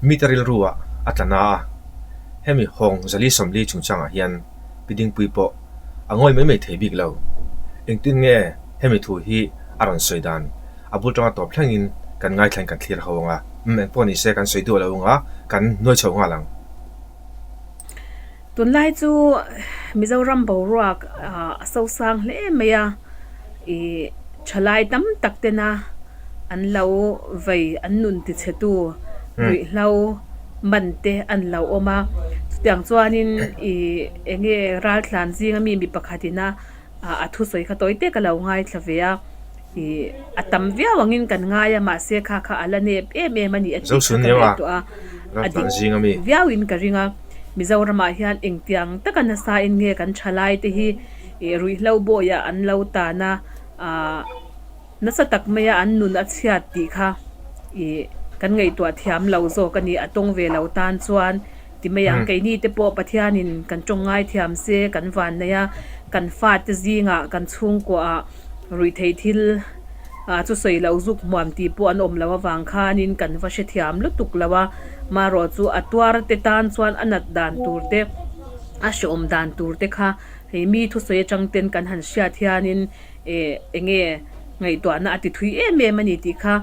Mite rilru ah a tla na a, hemi hawng zali sawmli chungchang ah hian pi dingpui pawh a ngawi mai mai thei bik lo. Engtin nge hemi thu hi a rawn sawi dan? A bul tang a tawp thleng in kan ngaithlan kan thlir ho ang a, umm engpawh nise kan sawi duh lo ang a, kan nuai chho nghal ang. Tunlai chu Mizoram boruak a so sang hle mai a, i thalai tam tak tena an lo vei an nun ti chhe tu ruih hlau man te an lo awm a, chutiang chuanin i enge raltlan zinga mi mi pakhatin a ah a thusawi kha tawi te ka lo ngaithla ve a, ih a tam viau angin kan ngai a mahse kha kha a la nep em em a nih a tih kha ka reh tawh a, a dik viauin ka ring a, Mizoramah hian engtiang taka nasa in nge kan tha lai te hi ih ruihhlo bawiah an lo tan a, ah. Nasa tak maia an nun a chhiat tih kha i kan ngaihtuah thiam lo zawk a ni. A tawng ve lo tan chuan ti mai ang, keini te pawh Pathianin kan tawng ngai thiam se kan vanneih a, kan fate zingah kan chhungkuahah ruih theih thil ah chu sawi lo zuk hmuam tih pawh an awm lo avang khanin kan va hre thiam lutuk lo a. Marawh chu a tuarte tan chuan a nat dan tur te, a hreawm dan tur te kha hei mi thusawi atangten kan han hriat hianin, E, enge ngaihtuahna a tithui em em a ni tih kha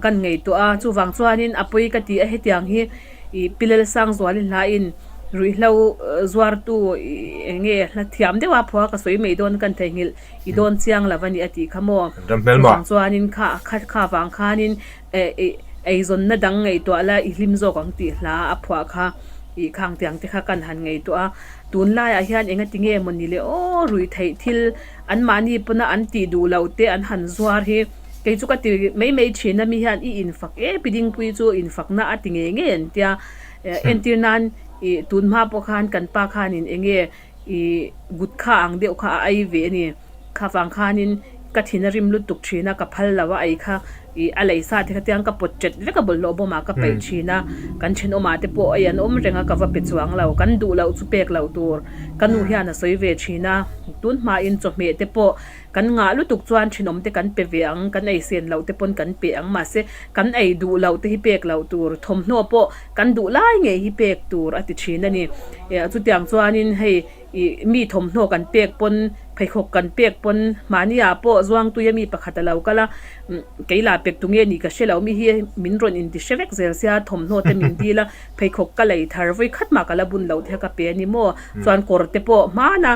kan ngaihtuah a. Chuvang chuanin a pawi ka tih a hetiang hi i Pilelsang Zuali Hlain ruihhlo zuartu i enge hla thiam deuh a phua ka sawi mai dawn kan theihnghilh i dawn chiang lo a ni a tih kha maw. Chuvang chuanin kha khat kha vang khanin e, eizawnna dang ngaihtuah la i hlim zawk ang tih hla a phuah kha i khangtiang te kha kan han ngaihtuah a. Tunlaiah hian engatinge maw nile aw ruihtheih thil. Anmahni pawna an tih duh loh te an han zuar hi, kei chu ka ti mai mai thin a, mi hian i infak e, Pi Dingpui chu infakna a ti ngei ngei an tia, entir nan i tunhma pawh khan kan pa khanin eng nge i gutka ang deuh kha a ai ve a ni, khafang khanin ka thin a rim lutuk thin a, ka phal lo a, ei kha. Ih, a lei sa te kha tiang ka pawt ṭet vek a bawlhhlawh bawmah ka peih ṭhin a, kan thenawmah te pawh ei an awm reng a ka va pe chuang lo, kan duh loh chu pek loh tur ka nu hian a sawi ve ṭhin a, tunhmain chawhmeh te pawh kan ngah lutuk chuan thenawm te kan pe ve ang, kan ei sen loh te pawn kan pe ang mahse kan ei duh loh te hi pek loh tur thawmhnaw pawh kan duh lai ngei hi pek tur a ti ṭhin a ni. Ih, chutiang chuanin hei Ih mi thawmhnaw kan pek pawn, pheikhawk kan pek pawn, mahniah pawh Zuangtuia mi pakhat a lo kal a, Kei la pek tu nge ni ka hre lo, mi hi min rawn inti hre vek zel sia, thawmhnaw te min dil a, pheikhawk ka lei thar vawi khat mah ka la bun loh teh a, ka pe a ni maw? Chuan kawr te pawh hman a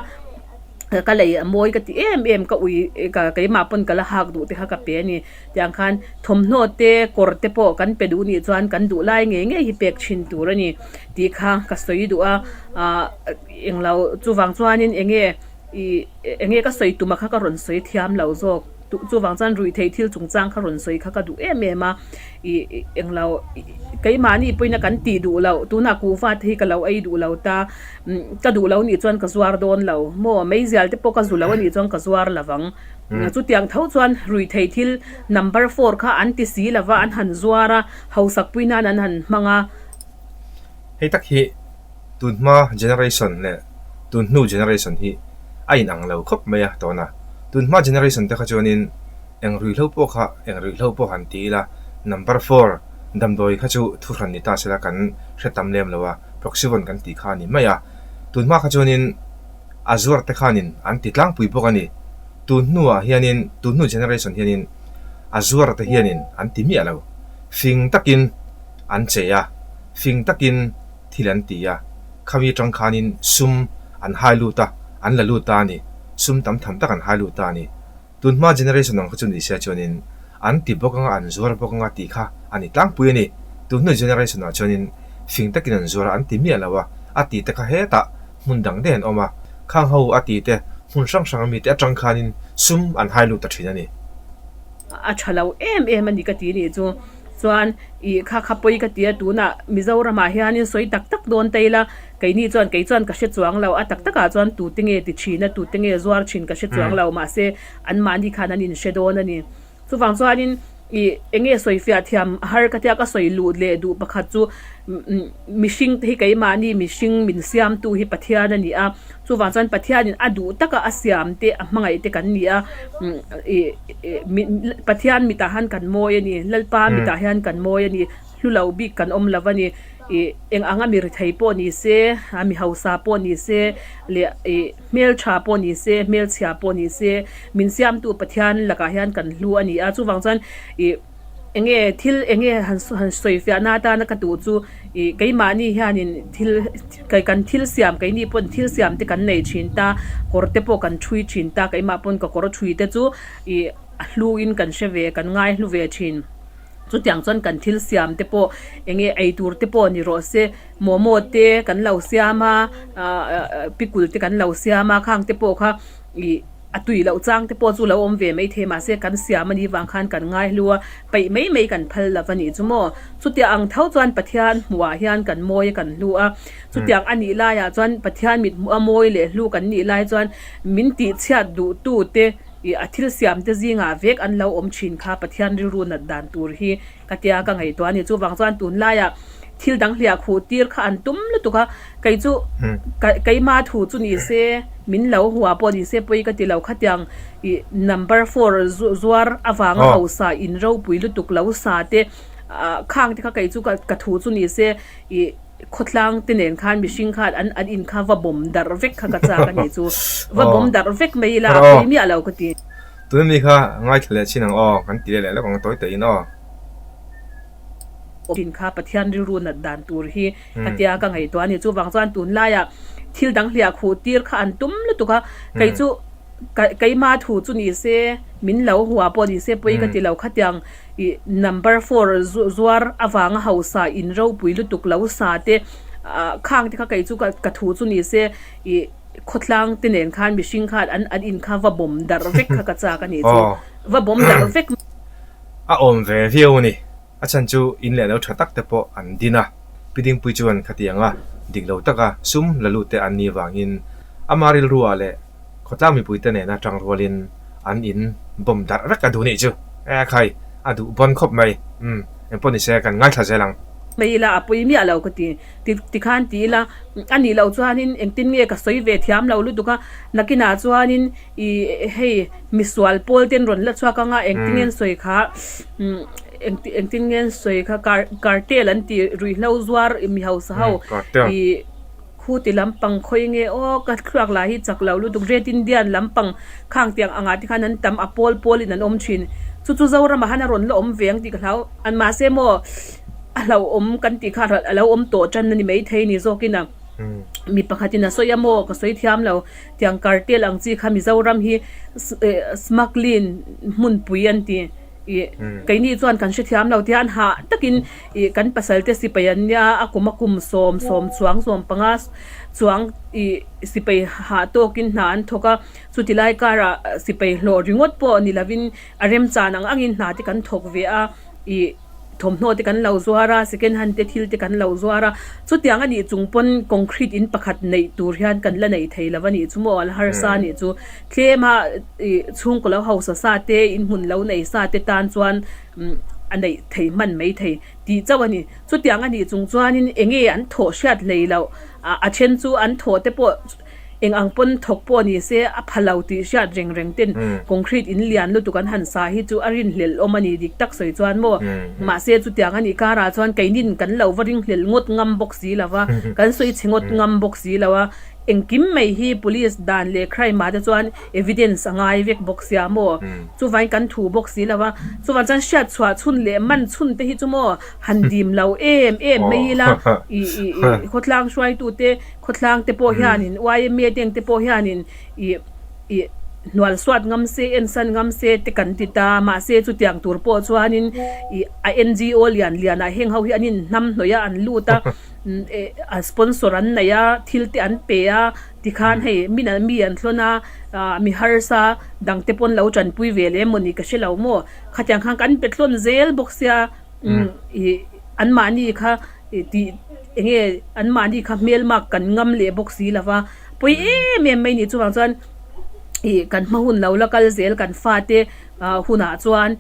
ka lei a mawi ka ti em em, ka ui, keimah pawn ka la hak duh teh a ka pe a ni. Tiang khan thawmhnaw te kawr te pawh kan pe duh nih chuan kan duh lai ngei ngei hi pek thin tur a ni tih kha ka sawi duh a aah englo chuvang chuan in enge ih enge ka sawi tum a kha ka rawn sawi thiam lo zawk duh chuvang chuan ruih theih thil chung chang kha rawn sawi kha ka duh em em a ih englo keimahni pawhin a kan tih duh loh tun ah kuh fate hi ka lo ei duh lo ta ka duh lo nih chuan ka zuar dawn lo maw mei zialte pawh ka zu lo anih chuan ka zuar lo vang. Chutiang tho chuan Ruithei thil number four kha an ti si lo va, an han zuar a, Hausakpui nan an han hmang a. Hei tak hi tunhma generation leh tunhnu generation hi a inang lo khawp mai a tawn a, tunhma generation te kha chuanin engruihlo pawh kha engruihlo pawh han ti ila, number four damdawi kha chu thu hran ni ta sela kan hre tam lem lo a, proxy vawn kan tih kha a ni mai a, tunhma kha chuanin. a zuar te khanin an ti tlangpui bawk a ni. Tun hnuah hianin, tun hnu generation hianin a zuar te hianin an ti miah lo. Fing takin an chei a, fing takin thil an ti a, khawi atang khanin sum an hai lut a, an la lut ta a ni. Sum tam tham tak an hai lut ta a ni. Tun hma generation ang kha chu ni sia chuan in an ti bawk anga an zuar bawk anga tih kha a ni tlangpui a ni. Tun hnu generation ah chuan in fing takin an zuar a an ti miah lo a, a ti te kha hetah hmun dang deuh an awm a, khang ho a ti te hmun hrang hrang a mi te atang khan in sum an hai lut ta thin a ni. A tha lo em em a ni ka ti nih chu chuan ih kha khapawi ka ti a tun ah Mizoram ah hian in sawi tak tak dawn ta ila. Keini chuan kei chuan ka hre chuang lo, a tak takah chuan tute nge ti thin a, tute nge zuar thin ka hre chuang lo, mahse anmahni khan an inhre dawn a ni. Chuvang chuanin i eng nge sawi fiah thiam a har ka tia ka sawi luh leh duh pakhat chu mihringte hi keimahni mihring min siamtu hi Pathian a ni a, chuvang chuan Pathianin a duh taka a siam te a hmangaih te kan ni a, i Pathian mitah han kan mawi a ni, Lalpa mitah hian kan mawi a ni. Hlu lo bik kan awm lo va ni ih, eng anga mi rethei pawh ni se, a mi hausa pawh ni se, leh ih, hmeltha pawh ni se, hmelchhia pawh ni se, min siamtu Pathian lakah hian kan hlu a ni a. Chuvang chuan ih, eng nge thil eng nge han han sawifiahna atana ka duh chu ih, keimahni hianin thil kai kan thil siam kai ni pawn thil siam te kan nei thin ta, kawr te pawh kan thui thin ta, keimah pawn ka kawr thui te chu ih, a hluin kan hre ve, kan ngai hlu ve thin. Chutiang chuan kan thil siam te pawh eng nge ei tur te pawh ni rawh se momo te kan lo siam a aah pickle te kan lo siam a khang te pawh kha ih a tui loh chang te pawh chu lo awm ve mai thei mahse kan siam a nih vang khan kan ngai hlu a peih mai mai kan phal lo va nih chu maw chutia ang tho chuan pathian hmuh ah hian kan mawi a kan hlu a chutiang a nih lai ah chuan pathian mit hmu a mawi leh hlu kan nih lai chuan min tih chhiat duh tu te. I a thil siamte zingah vek an lo awm thin kha Pathian rilru nat dan tur hi ka tia ka ngaihtuah a ni. Chuvang chuan tunlaia thil dang hliah khuh tir kha an tum lutuk a, kei chu keimah thu chu ni se, min lo hua pawh ni se pawi ka ti lo khatiang i number four zuar avanga hausa in ropui lutuk lo sa te khang te kha kei chu ka thu chu ni se i. khawtlang te nen khan mihring khan an an in kha va bawm darh vek kha ka chak a nih chu va bawm darh vek mai ila a pui miah lo ka ti. Tuna mi kha ngaithla leh chin ang aw kan ti leh leh lawk ang tawi tawiin aw. Chin kha Pathian rilru nat dan tur hi ka tia ka ngaihtuah a nih chuvang chuan tunlaia thil dang hliah khuh tir kha an tum lutuk a kei chu keima thu chu nise min lo hua pawh nise pawi ka ti lo khatiang. Ih number four zuar avanga hausa in ropui lutuk lo sa te ah khang te kha kei chu ka thu chu ni se ih khawtlang te nen khan mihring khan an an in kha va bawm darh vek kha ka chak a ni chu va bawm darh vek a awm ve viau a ni a chhan chu in leh lo tha tak te pawh an din a Pi Dingpuii chuan kha ti ang a dik lo taka sum la lut te an ni vangin ama rilruah leh Khawtlang mipuite nena tang rualin an in bawm darh rek a duh nih chu. Aa khai, a duh bawn khawp mai. Umm, engpawh ni se, kan ngaithla zel ang. Hme ila a pawi miah lo ka ti. Tikhan ti ila, anih loh chuanin engtin nge ka sawi ve thiam lo lutuk a, nakinah chuanin i hei misual pawl ten rawn la chhuak anga engtingen sawi kha engtingen sawi kha cartel an tih ruihhlo zuar mi hausa ho i. Khu ti lam pang khawi nge aw ka thluak lah hi chak lo lutuk Red Indian lam pang khang tiang angah te khan an tam a pawl pawl in an awm thin chu chu Zoram ah han a rawn la awm ve ang tih ka hlau an mahse maw a hlauh awm kan tih kha a lo awm tawh tan a ni maithei ni zawk in a mi pakhat in a sawi a maw ka sawi thiam lo tiang Cartel ang chi kha Mizoram hi Smuggling hmunpui an ti. Ih, keini chuan kan hrethiam lo tia an hah takin ih kan pasalte sipai an nia a kum a kum sawm sawm chuang zawm panga chuang ih sipai hah tawkin hna an thawk a chuti lai karah sipai hlawh ringawt pawh ni lovin a remchan ang angin hna te kan thawk ve a ih thawmhnaw te kan lo zuar a second hand te thil te kan lo zuar a chutiang a nih chung pawn concrete in pakhat neih tur hian kan la nei thei lo a nih chu maw ala harsa nih chu. Tlema ih chhung ka lo hausa sa te, inhmun lo nei sa te tan chuan a neih thei hman mai thei ti chauh a ni. Chutiang a nih chung chuanin eng nge an thawh hriat hlei loh, a then chu an thawh te pawh eng ang pawn thawk pawh ni se a pha lo tih hriat reng reng ten concrete in lian lutuk an han sa hi chu a rin hlelhawm a ni dik tak sawi chuan maw. Mahse chutiang a nih karah chuan keinin kan lo va ring hlelh ngawt ngam bawk si lo va, kan sawi chhe ngawt ngam bawk si lo a. Engkim mai hi police dan leh crime ah te chuan evidence a ngai vek bawk sia maw? Chuvain kan thu bawk si lo a. Chuvang chuan hriat chhuah chhun leh man chhun te hi chu maw han dim lo em em mai ila i i i khawtlang hruaitu te khawtlang te pawh hianin yma deng te pawh hianin i i hnualsuat ngam se en san ngam se te kan ti ta mahse chutiang tur pawh chuanin i a NGO lian lian ah heng ho hi an inhnam hnawih a an lut a. Sponsor an neih a, thil te an pe a, tikhan hei min an mi an thlawn a, ah mi harsa dang te pawn lo tanpui ve leh maw ni ka hre lo maw, khatiang khan kan pe thlawn zel bawk sia, umm ih an mahni kha ih tih eng nge an mahni kha hmel mak kan ngam leh bawk si lo va, pawi em em mai ni chuvang chuan ih kan hma hun lo la kal zel kan fate ah hunah chuan,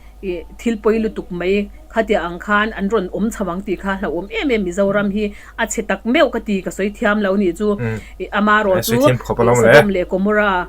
thil pawi lutuk mai khatiah ang khan an rawn awm chho ang tih kha hlauhawm em em Mizoram hi a chhe tak meuh ka ti ka sawi thiam lo nih chu ih ama erawh chu sadawm leh komora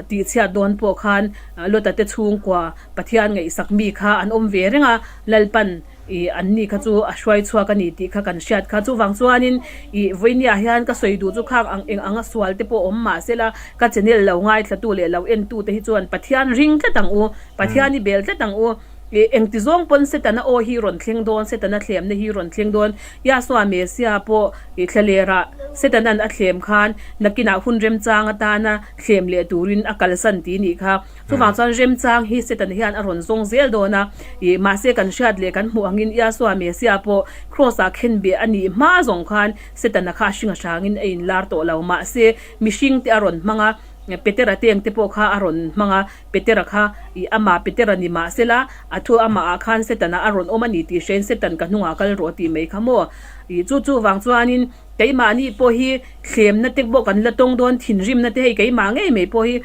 tih chhiat dawn pawh khan Lotate chhungkua Pathian ngaihsak mi kha an awm ve reng a Lalpan I anni kha chu a hruai chhuak a ni tih kha kan hriat kha. Chuvang chuanin i vawinia hian ka sawi duh chu khang ang eng anga sual te pawh awm mahsela ka channel lo ngaithlatu leh lo entute hi chuan Pathian ring tlat ang u, Pathian i bel tlat ang u. I engti zawng pawn Setana aw hi rawn thleng dawn, Setana thlemna hi rawn thleng dawn. Yahsua Messia pawh i thla lerah Setana'n a thlem khan nakinah hun remchang atana thlem leh turin a kalsan ti ni kha. Chuvang chuan remchang hi Satan hian a rawn zawng zel dawn a, ih, mahse kan hriat leh kan hmuh angin Iasua Messia pawh Kraws ah khenbia a nih hma zawng khan Satan-a kha a hringa hrangin a inlar tawh lo. Mahse, mihringte a rawn hmang a, Petera teng te pawh kha a rawn hmang a, Petera kha, ih, amah Petera ni mah sela, a thu amahah khan Satan-a a rawn awm a ni tih hriain Satan ka hnungah kal rawh tih mai kha maw? Ih, chu chuvang chuanin. Keimahni pawh hi thlemna te pawh kan la tawng dawn thinrimna te hei keimah ngei mai pawh hi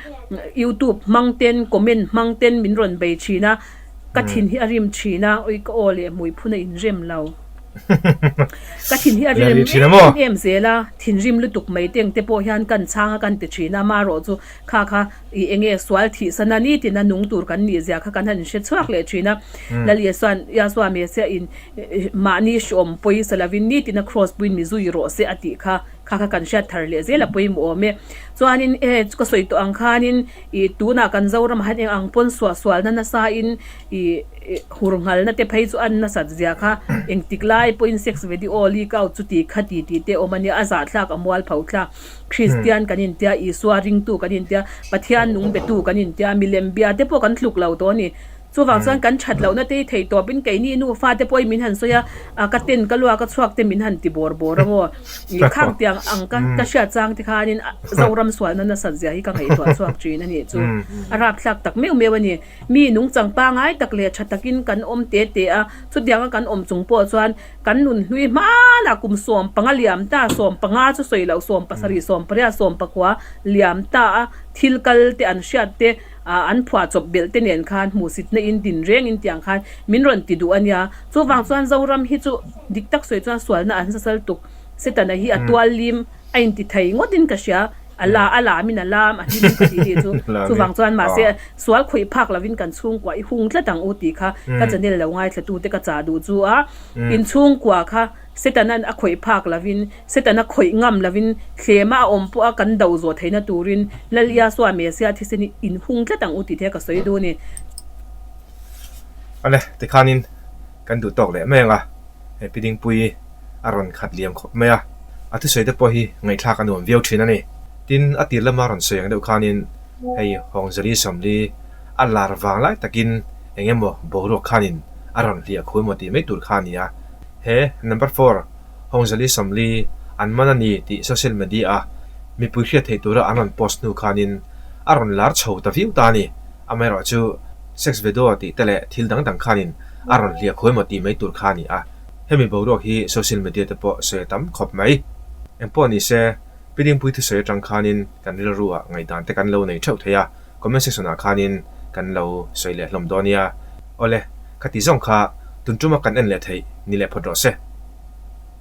youtube hmang ten comment hmang ten min rawn bei thin a ka thin hi a rim thin a ui ka aw leh mui phun a in rem lo ka thin hi a rim em em zel a thinrim lutuk mai te ang te pawh hian kan chhang a kan ti thin a marawh chu kha kha I enge sual thih san a ni tina nung tur kan nih zia kha kan han hre chhuak leh thin a. Lalia chuan, Yahshua Messiah in mahni hreawm pawisa lovin ni tina Kraws puiin mi zui rawh se a tih kha kha kha kan hriat thar leh zel a pawimawh awm e. Chuanin e chu ka sawi tawh ang khanin i tunah kan Zoram han eng ang pawn suah sualna nasa in i hur nghal na te phei chu an nasat zia kha engtik lai pawhin sex ve diaw, leak out, chuti kha titi te awm a nia, a zahthlak a mual pho thlak. Kristian kan intia, Isua ringtu kan intia, Pathian nung betu kan intia, milem bia te pawh kan tluk lo tawh a ni. Chuvang chuan kan that lohna te hi theih tawpin keini nufa te pawh i min han sawi a, a ka ten ka luak a chhuak te min han ti bawr bawr ang aw. I khang tiang ang ka ka hriat chang te khanin Zoram sualna nasat zia hi ka ngaihtuah chhuak thin a nih chu. A rapthlak tak meuh meuh a ni. Mi nung changpa ngai tak leh tha takin kan awm te te a, chutianga kan awm chung pawh chuan, Kan nun hlui hman ah kum sawm panga liam ta, sawm panga chu sawi loh, sawm pasarih, sawm pariat, sawm pakua liam ta a thil kal te an hriat te ah an phuah chawp belh te nen khan hmuhsitna in din reng in tiang khan min rawn ti duh a nia. Chuvang chuan Zoram hi chu dik tak sawi chuan sualna an zasal tuk, Setana hi a tuallim a inti thei ngawt in ka hria. A la a lam in a lam a hlim in ka tih hi chu chu vang chuan mahse sual khawih phak lo in kan chhungkua i hung tlat ang u tih kha ka chanel lo ngaithla-tu te ka chah duh chu a in chhungkua kha Satan a khawih phak lo in Satan a khawih ngam lo in hlema a awm pawh a kan do zawh theihna tur in Lal Iasua Messiah thisen hi in hung tlat ang u tih te ka sawi dun i. Ane tikhan in. Kan duh tawk leh meng a, he Pi Dingpui a rawn khat liam khawp mai a, a thusawi te pawh hi ngaihthlak a nuam viau thin a ni. Tin, a tir lama rawn sawi ang deuh khanin hei Hawngzali Sawmli a lar vang lai takin eng emaw boruak khanin a rawn hliah khu emaw tih mai tur kha a ni a. He Number four Hawngzali Sawmli an man a ni tih social media-a mipui hriat theih tura an rawn post hnu khanin a rawn lar chho ta viau ta a ni. Amaherawh chu, sex ve daw tih te leh thil dang dang khanin a rawn hliah khuai maw tih mai tur kha a ni a. Hemi boruak hi social media te pawh sawi a tam khawp mai. Eng pawh ni se, Pi Dingpui thusawi atang khanin kan rilru ah ngaihdan te kan lo nei theuh thei a, comment section ah khanin kan lo sawi leh hlawm dawn nia. Awle, kha ti zawng kha, Tunṭuma kan en leh theih ni leh phawt rawh se.